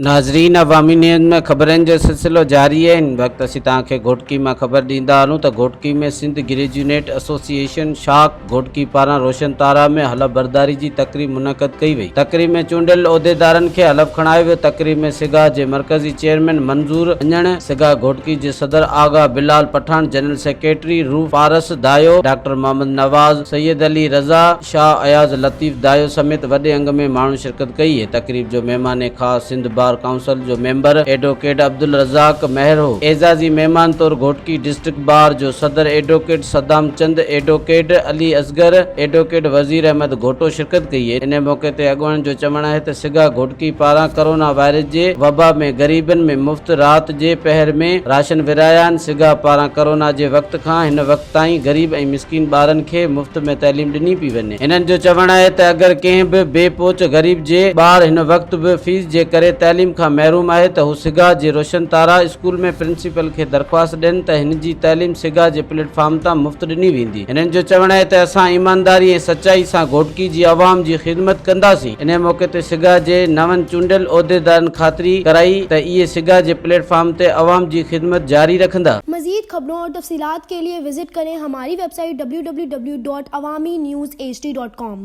ناظرين عوامي نيوز ۾ خبرن جو سلسلو جاري آهي ان وقت اسين توهان کي گهوٽڪي مان خبر ڏيندا هلون ته گهوٽڪي ۾ سنڌ گريجونيٽ ايسوسيئيشن شاخ گهوٽڪي پاران روشن تارا ۾ حلف برداري جي تقريب منعقد ڪئي وئي تقريب ۾ چونڊيل عهديدارن کي حلف کڻايو ويو تقريب ۾ سگا جي مرڪزي چيئرمين منظور اڃڻ، سگا گهوٽڪي جي صدر Agha Bilal Pathan, general secretary Rooh Paras Dayo, doctor Muhammad Nawaz, Syed Ali Raza, Shah Ayaz Latif Dayo سميت وڏي انگ ۾ ماڻهن شرڪت ڪئي. تقريب جو مهمان خاص سنڌ بار ڪائونسل جو ميمبر ايڊووڪيٽ عبدالرزاق مهر هو. اعزازي مهمان طور گهوٽڪي ڊسٽرڪٽ بار جو صدر ايڊووڪيٽ صدام چند، ايڊووڪيٽ علي اصغر، ايڊووڪيٽ وزير احمد گهوٽو شرڪت ڪئي. انهي موقعي تي اڳواڻن جو چوڻ آهي ته. سگا گهوٽڪي پاران ڪورونا وائرس جي وبا ۾ غريبن ۾ مفت رات جي پهر ۾ راشن ورهايا آهن، سگا پاران ڪورونا جي وقت کان هن وقت تائين غريب ۽ مسڪين ٻارن کي مفت ۾ تعليم ڏني پئي وڃي، هنن جو چوڻ آهي ته اگر ڪنهن به بي پهچ غريب جي ٻار هن وقت به فيس جي ڪري تعليم کان محروم آهي ته هو سگا جي روشن تارا اسڪول ۾ پرنسپل کي درخواست ڏين ته هن جي تعليم سگا جي پليٽ فارم تان مفت ڏني ويندي. هنن جو چوڻ آهي ته اسان ايمانداري ۽ سچائي سان گهوٽڪي جي عوام جي خدمت ڪنداسين، انهي موقعي تي سگا جي نون چونڊيل عهديدارن خاطري ڪرائي ته اهي سگا جي پليٽ فارم تي عوام جي خدمت جاري رکندا. مزيد خبرون اور تفصيلات کے لئے وزٽ ڪرين ھماري ويب سائيٽ www.awaminews hd.com.